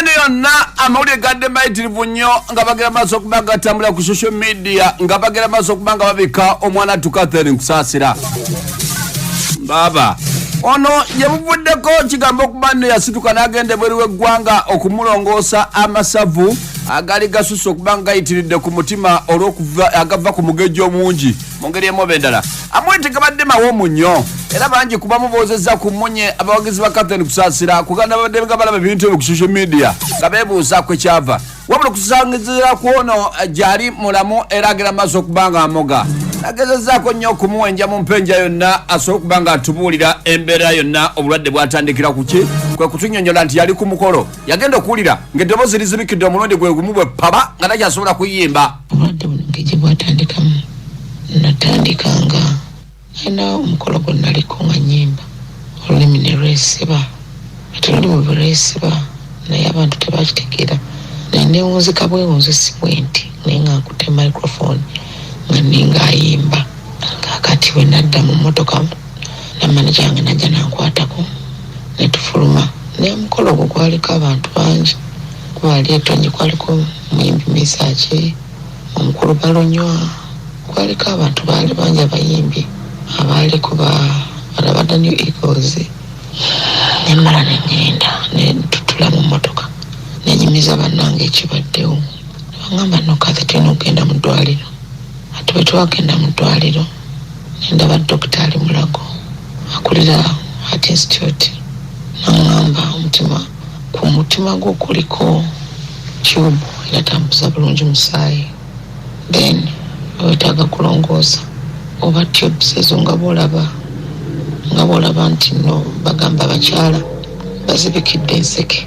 uganda yonna amawulire gadde mayitirivu nnyo nga bagera maaso okuba nga gatambula ku social media nga bagera maaso okuba nga babika omwana tukathere nkusaasira baaba ono yebuvuddeko kigambo okuba nno yasituka n'agenda ebweru w'eggwanga okumulongoosa amasavu agaali gasusse okuba nga gayitiridde ku mutima olw'okuva agava ku mugejjo omungi mu ngeri emu oba endala amwe tegabadde mawoomu nnyo era bangi kubamu boozezza ku mmunye abawagizi ba cathen kusaasira kuganda babadde nga balaba ebintu ebyo ku social media nga beebuuza kwe kyava wabula okusangizira ku ono gyali mulamu era agenda mu maaso okuba nga amoga agezezzaako nnyo okumuwenja mu mpenja yonna asobola okuba nga atubuulira embeera yonna obulwadde bwatandikira ku ki kwe kutunyonyola nti yali ku mukolo yagenda okuwulira ng'eddoboozi lizibikidde omulundi gwe gumu bwe paba nga takyasobola kuyimba obulwadde buno ngegye bwatandikamu natandika nga alina omukolo gwe naliko nga nyimba olulimi ne lwesiba ati luli mu biresiba naye abantu tebakitegeera naye newunzika bwewunzi si bwenti naye nga nkute microphone nga ninga ayimba kakati wenadda mu motoka ne manager wange najja nankwatako ne tufuluma naye omukolo ogwo gwaliko abantu bangi kuba ali etonyi kwaliko muyimbi misaki omukulu balonywa kwaliko abantu baali bangi abayimbi abaaliko ba balabada new eagles nemala nengenda netutula mu motoka nenyumiza bannange ekibaddewo bangamba nokathi tulina okugenda mu ddwaliro ati bwe twagenda mu ddwaliro Ndaba Dokita Ali Mulago akulira Heart Institute n'ang'amba omutima ku mutima gwo kuliko tube enatambuza bulungi musaayi then wetaaga kulongoosa oba tubes ezo nga bwolaba nga bwolaba nti no bagamba abakyala bazibikidde enseke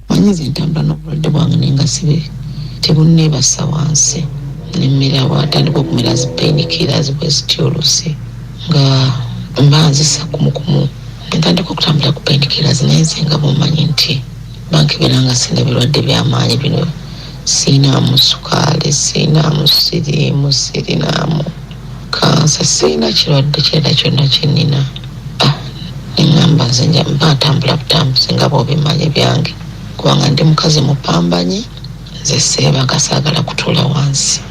Manya nze ntambula n'obulwadde bwange naye nga sibe tebunneebassa wansi nemmera bwatandika okumera zi painkiller zibwezitya oluusi nga mba nzisa kumukumu ntandika okutambula ku painkiller zinaye nze nga bwomanyi nti bankebera nga sirina birwadde byamaanyi bino sirinaamu sukaali sirinaamu siriimu sirinaamu Kansa sirina kirwadde kirala kyonna kye nnina. Ah, ne ŋŋamba nze nja mba ntambula butambuzi nga bw'obimanyi byange kubanga ndi mukazi mupambanyi nze seebaga saagala kutuula wansi.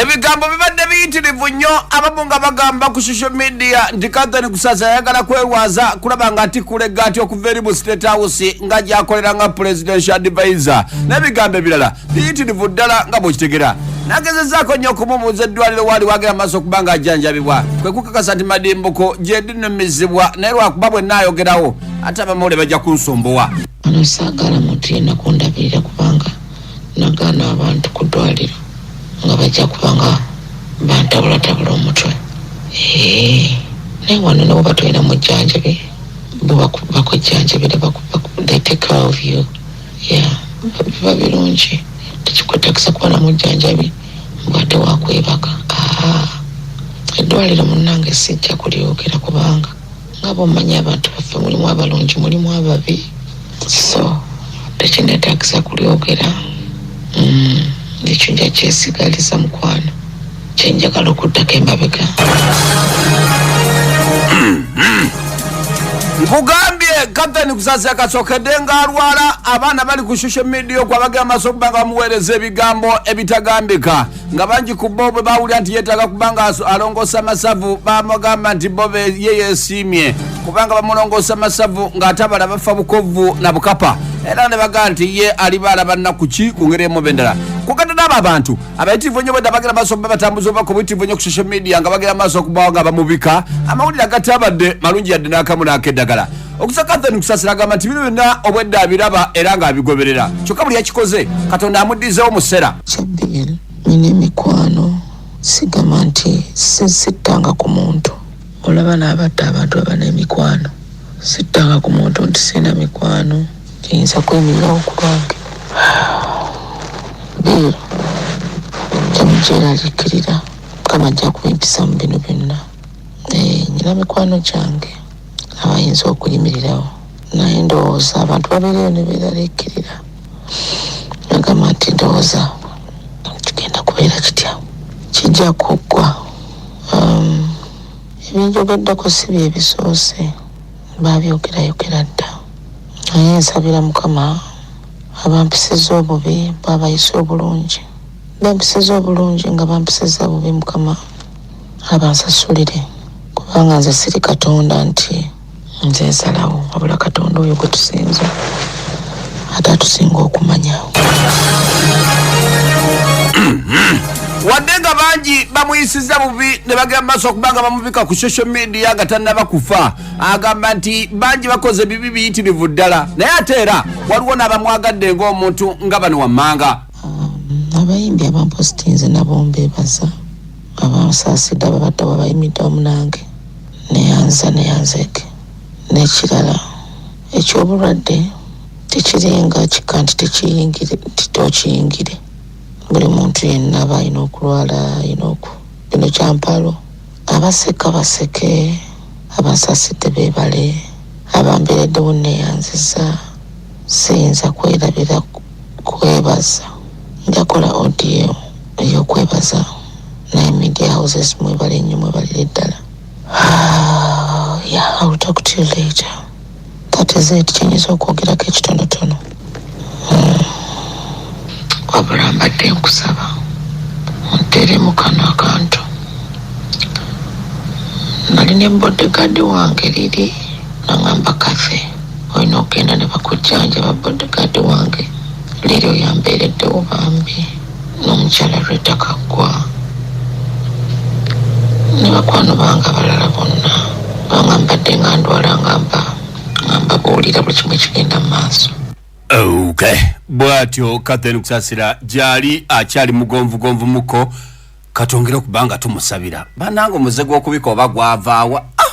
ebigambo bibadde biyitirivu nnyo abamu nga bagamba ku social media nti kathani kusaza ayagala kwerwaza kulaba nga atikula eggaati okuva eri mu state house nga gyakolera nga presidential advisor n'ebigambo ebirala biyitirivu ddala nga bwekitegera nagezezaako nnyo okumubuuza eddwaliro waali wagera maaso okuba nga ajjanjabibwa kwe kukakasa nti madimbuko gyedinumizibwa naye lwakuba bwe naayogerawo ate abamawule bajja kunsumbuwa wano saagala muntu yenna kundabirira kubanga nagaana abantu ku ddwaliro nga bajja kubanga bantabulatabula omutwe Eh, naye wano nabo batulina mujjanjabi bo baku- bakujjanjabira baku- baku- they take care of you Yeah biba birungi tekikwetagisa kuba na mujjanjabi mbwate wakwebaka ah, eddwaliro munange sijja kulyogera kubanga nga bwomanyi abantu baffe mulimu abalungi mulimu ababi so tekinetagisa kulyogera mm, ekyo nja kyesigaliza mukwano kyenjagala okuddako emabega nkugambye kapteni kusasi akasokedde ng'alwala abaana bali ku social media okwo abagenda maaso okuba nga bamuweereza ebigambo ebitagambika nga bangi ku bo bwe bawulira nti yeetaaga kuba nga aso- alongoosa amasavu bamugamba nti bo be- ye yeesiimye kubanga bamulongoosa amasavu ng'ate abala bafa bukovvu na bukapa era ne bagamba nti ye aliba alaba nnaku ki ku ngeri emu bendala kugatadde abo abantu abayitirivu ennyo bwedda bagenda maaso okuba batambuza obubaka obuyitirivu ennyo ku social media nga bagenda maaso okubawo nga bamubika amawulire agatabadde malungi yadde n'akamu n'akeddagala okusa kathen kusasira agamba nti bino byonna obwedda abiraba era ng'abigoberera kyokka buli yakikoze katonda amuddizewo musera kyabiel nina emikwano sigamba nti sittanga ku muntu olaba n'abatta abantu abana emikwano sittanga ku muntu nti sirina mikwano kiyinza kwemererawo ku lwange deal emukyeraliikirira mukama ajja kuba empisa mu bino byonna Eh, nyina mikwano gyange abayinza okuyimirirawo naye ndowooza abantu babeereyo ne beeraliikirira agamba nti ndowooza kigenda kubeera kitya kijja kuggwa Um, ebinjogeddeko si bye bisoose baabyogerayo naye nsabira mukama abampisiza obubi bwabayisa obulungi bampisiza obulungi nga bampisiza bubi mukama abansasulire kubanga nze siri katonda nti nze nsalawo wabula katonda oyo gwe tusinza ate atusinga okumanya wadde nga bangi bamuyisiza bubi ne bagenda mu maaso okuba nga bamubika ku social media nga tannaba kufa agamba nti bangi bakoze bibi biyitirivu ddala naye ate era waliwo n'abamwagadde ng'omuntu nga bano wammanga um, abayimbi abampositinze nabo mbebaza abansaasidde ababadde wabayimidde omunange neyanza neyanzeke n'ekirala ekyobulwadde tekiringa kika nti tekiyingire nti tokiyingire buli muntu yenna aba alina okulwala alina oku bino kyampalo Abaseka baseke, abansasidde beebale, abambeereddewo nneeyanzizza, siyinza kwerabira kwebaza. Njakola audio ey'okwebaza naye media houses mwebale nnyo mwebalire ddala. Haa, yeah, I will talk to you later. That is it kyenyiza okwogerako ekitonotono. wabula mbadde nkusaba ontere mu kano akantu nali ne bodyguard wange liri nangamba kafe olina okugenda ne bakujjanjaba bodyguard wange liri oyambeereddewo bambi n'omukyala Rita Kaggwa ne bakwano bange abalala bonna banga mbadde nga ndwala nga mba nga mbabuulira buli kimu ekigenda mu maaso okay. bwatyo kathen kusasira gyali akyali mugonvugonvu muko katwongere okubanga tumusabira bananga omuze gw'okubika oba gwavaawa ah!